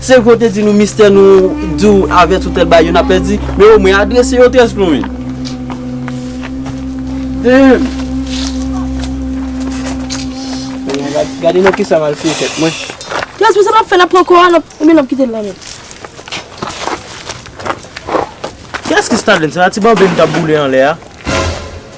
Se vre w te di nou mistè nou di w avès ou tèt bay yo n ap pèdi men omwen adrese yo trèz plomin. Dèyèm. Gade nan kisa m al fye tèt mwen. Trèz men sa m ap fè l ap pran kò a l ap oubyen l ap kite l la menm. Kiyès ki Stadens la ti bòbe m t ap boule anlè a?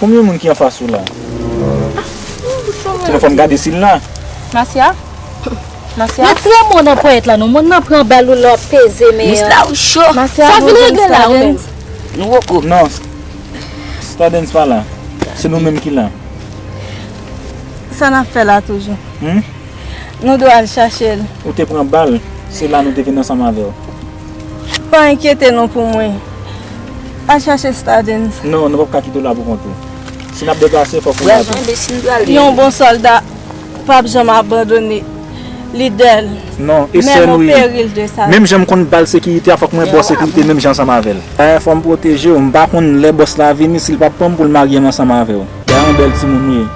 Konbyen moun ki anfas ou la? Sinon fòm gade sil la. Nasya? Nasya? Met fre mou nan ponyèt la non. Moun nan pran bal ou la wap peze men an. Mis la ou cho. Nasya? Sa vin regle la ou menm? Nou woko. Non. Stadens pa la. Se nou menm ki la. Sa nap fè la toujou? Hum? Nou dwe al chache l. Ou te pran bal. Se la nou te vin ansanm avèw. Pa enkyete non pou mwen. Al chache Stardens. Non, nou pap ka kite w la pou kont ou. Si n ap deplase, fòk ou la tou. Yon bon sòlda pap janm abandone lidè l, menm o peril de sa vi. Menm jan m konn ba l sekirite a, fòk mwen ba w sekirite menm jan ansanm avè l. Dayè fò m pwoteje w. M pa konn lè bòs la vini, si l pap pran m pou l marye m ansanm avè w. Dayan yon bèl timoun w ye.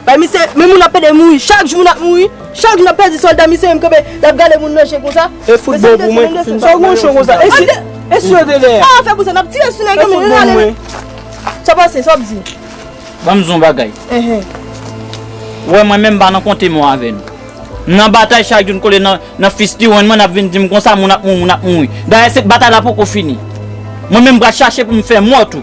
Bay misye men moun ap pede mouri chak jou moun ap mouri chak jou nap pèdi sòlda misye menm kanpe lap gade moun nan je konsa E fout bon pou mwen Finn pa pran yon fou bagay E si yo te dèyè Sa wap fè pou sa nap tire sou nèg yo menm yo rale men Sa pase sa wap di Banm di yon bagay Ou wè mwen menm m pa nan konte mò avè nou M nan batay chak jou n kole nan fisti wen mwen nap vin dim konsa moun ap mouri moun ap mouri dayè se batay la poko fini mwen menm m pral chache pou m fè mò tou.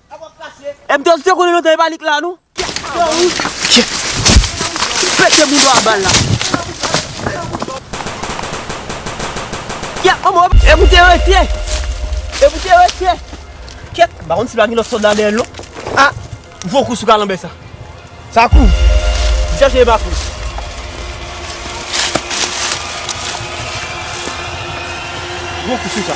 Ebdo se konnen lontan e pa li k la non. Pete moun do a bal la. E pou te rete. E pou te rete. Ket. Ba konn si pa gen lot solda dèyèl non. A. Gwo kou sou kalanbè sa. Sa kou. Li chache e pa kou. Gwo kou sou sa.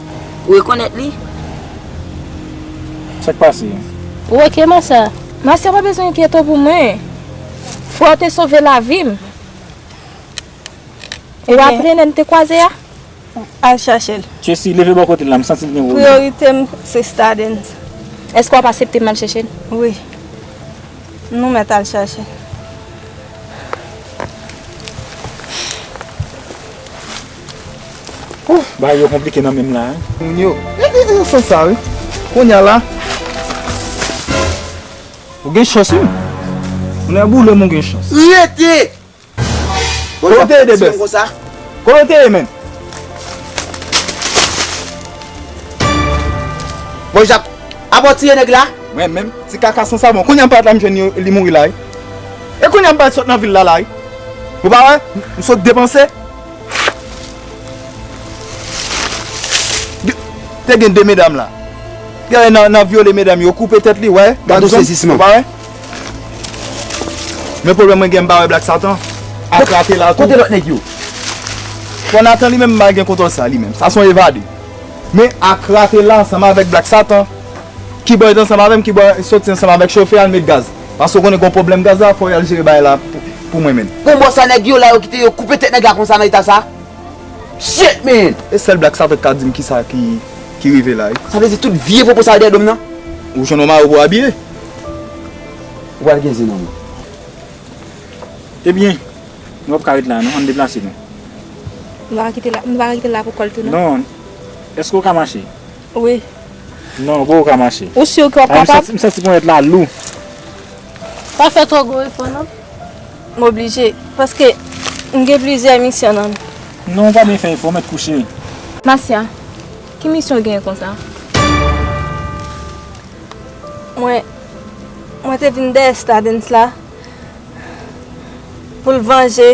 Ou rekonèt li? Sa k pase? Ou ok Marcia? Marcia pa bezwen enkyete w pou mwen. Fwè w te sove lavi m. Ou raple lè n te kwaze a? Al chache l. Tracy, leve bò kote l la, m santi l gen pwoblèm. Priyorite m se Stardens. Èske w ap asepte m al chache l? Wi. Nou mèt al chache l. Ooh bagay yo konplike nan menm la hein. Moun yo Yo fè sa wi Konya la Ou gen chans wi Moun yo boulem ou gen chans. Rete! Kote w te ye Debes? Kote w te ye menm? Bon Jacques, a bon tiye nèg la? Mwen menm, ti kaka san savon, kounye a m paret la m jwenn li mouri la wi. E kounye a m paret sot nan vil la la wi. Ou pa wè, m sot depanse. Te gen 2 medam la. Gade nan nan vyole medam yo koupe tèt li wè. Gade sezisman. Ou pa wè? Men pwoblèm mwen gen m pa wè Black Satan ak Rate la tou. Kote lòt nèg yo? Bon Nathan li menm m pa gen kontwòl sa li menm. Sa son evade. Men ak Rate la ansanm avèk Black Satan ki bo et ansanm avè m ki bo soti ansanm avèk chofè al met gaz. Paske w konnen gon pwoblèm gaz la fò yal jere bagay la pou mwen menn. Bon bò sa nèg yo la yo kite yo koupe tèt nèg la konsa nan eta sa? Shit man! E sèl Black Satan k ka dim kisa ki rive la wi. Sa vle di tout vye popo sa yo dèyè dom nan? Ou jwenn yon mari pou w abiye? Ou pral gen zen nan menw. Ebyen, nou pap ka ret la non, ann deplase nou. Nou pa ka kite l la pou kòl tou non. Non, èske ou ka mache? Wi. Non gwo ou ka mache. Ou sur ke wap kapab? M santi ponyèt la lou. Pa fè twò gwo efò non. M oblije. Paske m gen plizyè misyon nan. Non ou pa byen fè efò mèt kouche. Masya, ki misyon ou genyen konsa? Mwen, mwen te vin dèyè Stardens la pou l vanje.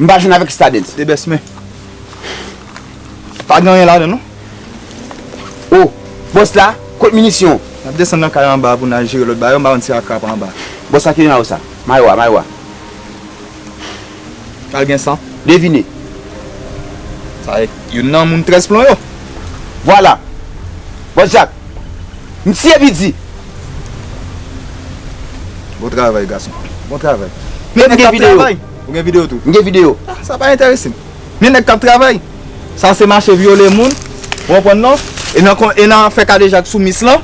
M pa jwenn avèk stadens. De bès men. Pa gen anyen ladan non. O! Bòs la, kot minisyon? N ap desann nan kay anba pou n al jere lòt bagay yo. M pa konn si a krab anba. Bòs la ki nan mayo sa? Mayo a, mayo a. Al gen san. Devine. Sa e youn nan moun trèz plon yo. Vwala! Bòs Jak! Msye bidi. Bon travay gason. Bon travay. Men nèg kap travay. Ou gen video tou? M gen video. Ah sa pa enterese m. Men nèg kap travay. Sa se mache vyole moun. Ou konprann non? E nan kon e nan fè kadejak sou mis lan.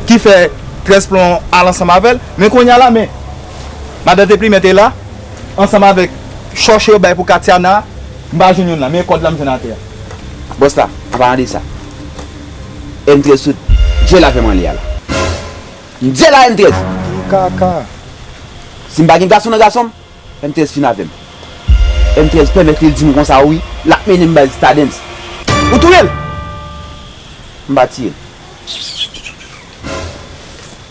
Ki fè 13 plon al ansanm avèl. Men kounye a la men. Madan te plimen te la. Ansanm avèk chòche yo bay pou Katiana. M pa jwenn youn la. Men kòd la m jwenn atè a. Bòs la. An palan de sa. M très sou Dye la fè m anlè a la M Dye la M très. Anpil kaka. Si m pa gen gason nan gason m M très fin avè m M très pèmèt li di m konsa wi L ap mennen m bay stadens Ou touye l M pa tiye l.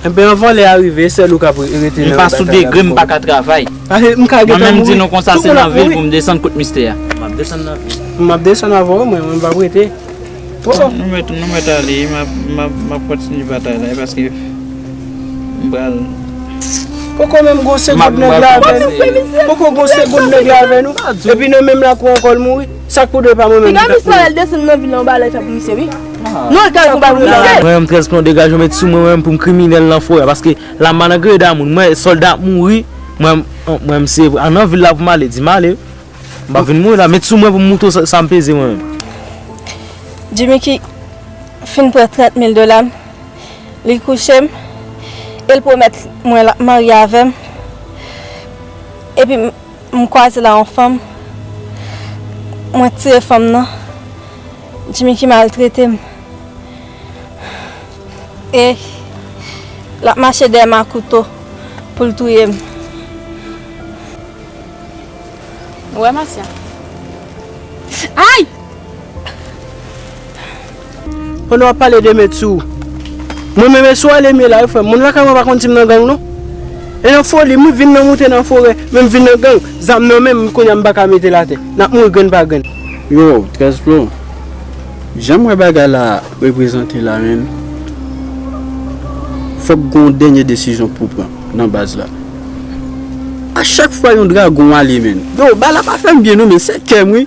Enben yon vòlè a rive sèl ou kap rete nan batay la pou kòw. M pa sou degre m paka travay. Mwen menm di nou konsa se nan vil poum desann kot mistè a. Map desann nan vil. Map desann avèw mwen m pap rete. Bon. Nou mèt nou mèt ale map kontinye batay la paske m pral. Poko menm gon segonn nèg la avè nou. Poko gon segonn nèg la avè nou. Epi nan menm lakou ankò l mouri. Sak pou de pa mwen menm. Piga misye lèl desann nan vil la yon bagay lèl fè pou misye wi. Non lèl kal pou bay moun lèl. Mwen menm 13 plon degajew met sou mwen menm poum kriminèl nan forè paske la m'en nan greda moun mwen solda ap mouri mwen menm se nan vil la pou m'ale di m'ale m pap vin mouri la met sou mwen poum moutre w sam peze mwen menm. Jimmy ki Finn pran 30 mil dolam li kouchem el pwomèt mwen lap marye avèm epim. M kwaze la yon fanm mwen tiye fanm nan djimi ki maltrete m e lap mache dèyè m a kouto pou l touye m. Ou wè Masya? Ayy! Pandan wap pale de met sou Mwen menm e sou alemye la wi frem moun lakay mwen pa konn sim nan gang non e nan foli m wi vin nan moute nan forè men m vin nan gang zam nan menm kounya m paka metel atè nap mouri grenn pa grenn. Yow 13 plon janm wè bagay la reprezante la menn fòk gon dènye desizyon pou pran nan baz la a chak fwa yon dragon ale menn. Yow bay la pa fèm byen non men se kèm wi.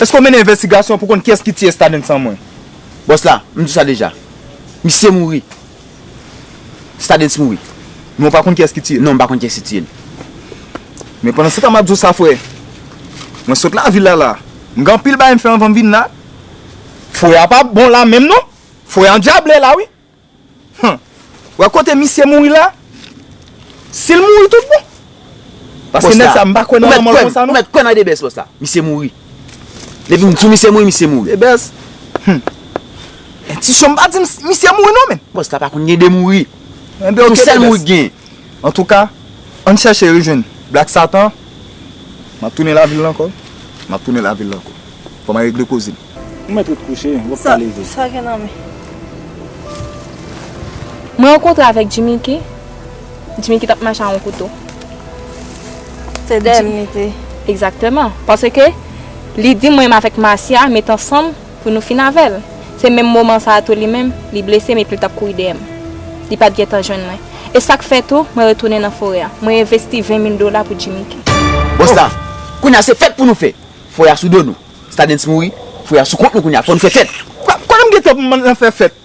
Eske w mennen envestigasyon pou w konn kiyès ki tiye Stadens san mwen? Bòs la, M di sa deja. Misye mouri. Stadens mouri. Men w pa konn kiyès ki tiye l? Non, m pa konn kiyès ki tiye l. Men pandansetan m ap di w sa frè, mwen sot lavil la la. M gen anpil bagay m fè anvan m vin la. Foye a pa bon la menm non. Foye a andyable la wi. Hum wè kote misye mouri la sil mouri tout bon paske nèg sa mpa kwè nan lanmòl konsa non. Ou mèt kwè nan ide bès bòs la misye mouri depi mdi w misye mouri misye mouri. Ide bès hum entisyonm pa dim misye mouri non men. Bòs la pa konn gen ide mouri son sèl mouri k gen. Antouka ann chèche rejwenn black satan map tounen lavil la ankò map tounen lavil la ankò fòm al regle kozem. Ou mèt ret kouche, wap ka leve. Sa gen nan men. Mwen rankontre avèk Djimiki. Djimiki tap mache a yon kouto. Se dèyè m li te. Egzakteman. Pase ke li di mwen avèk Masya met ansanm pou nou fin avè l. Se menm moman sa a tou li menm, li blese m epi l tap kouri dèyè m. Li pat gentan jwenn mwen. E sak fè tou, mwen retounen nan forè a. Mwen envesti 20 mil dola pou Djimiki. Bon sa, kounye a se fèt pou nou fè. Forè a sou do nou. Stadens mouri, fouye a sou kont nou kounya, fò nou fè fèt. Kote m gentan pou m al fè fèt?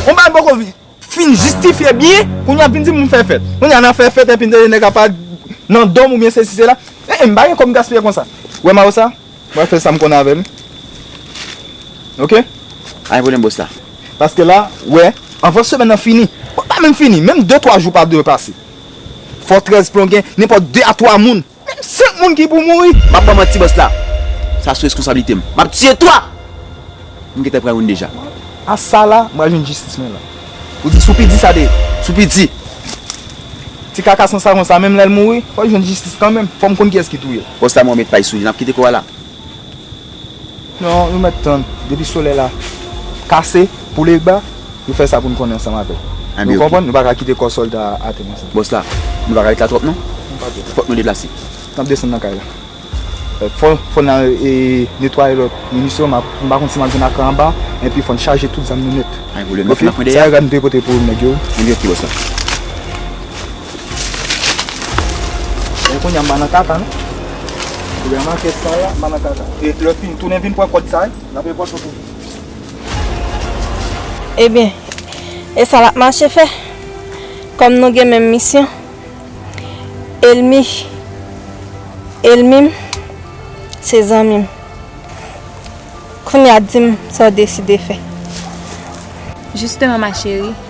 On bagay poko fin jistifye byen, pou nou ap vin di m pou m fè fèt. Kounya n ap fè fèt epi n tande nèg ap pale nan do m oubyen sesi sela. Hehe m pa gen kò m gaspiye konsa. Ou wè Marosa? M pral fè sa m konn avè l. Ok? Pa gen pwoblèm bòs la. Paske la, ou wè, anvan semèn nan fini, pa menm fini, menm de twa jou pa dwe pase. Fò 13 plon gen nenpòt de a twa moun Menm 5 moun ki pou mouri. Map ban manti boss la. Sa sou reskonsablite m. Map tiye 3! M gentan pran youn deja. A sa la, m pral jwenn jistis mwen la. Ou di Soupi di sa de Soupi di. Ti kaka san savon sa menm lèl mouri fòl jwenn jistis kanmenm fòm konn kiyès ki touyel. Boss la mwen met pay sou li nap kite koral la. Non, nou mèt tann, depi solèy la kase, pou Legba, nou fè sa pou nou konnen ansanm avè l. Nou konprann, nou pa ka kite kò sòlda a atè konsa. Bòs la, nou pa ka ret la twòp non. Fòk nou deplase. N ap desann nan kay la. Fò n al netwaye lòt minisyon, m pa konn si m ap jwenn akè anba, enpi fò n chaje tout zam nou nèt. Pa gen pwoblèm, n ap fè nan kwen dèyè a. Sa yo, gad nou dwe pote pou nèg yo wi. Anbyen ok, bòs la. Ebyen kounya m pa nan kaka non. Ebyen an manke san la m pa nan kaka. E lè fin tounen vin pran kòd sa l ap repòte w tou. Ebyen e sa l ap mache fè? Kòm nou gen menm misyon. Elmi elmi m se zanmi m. Kounya di m sa w deside fè. Jisteman ma cheri.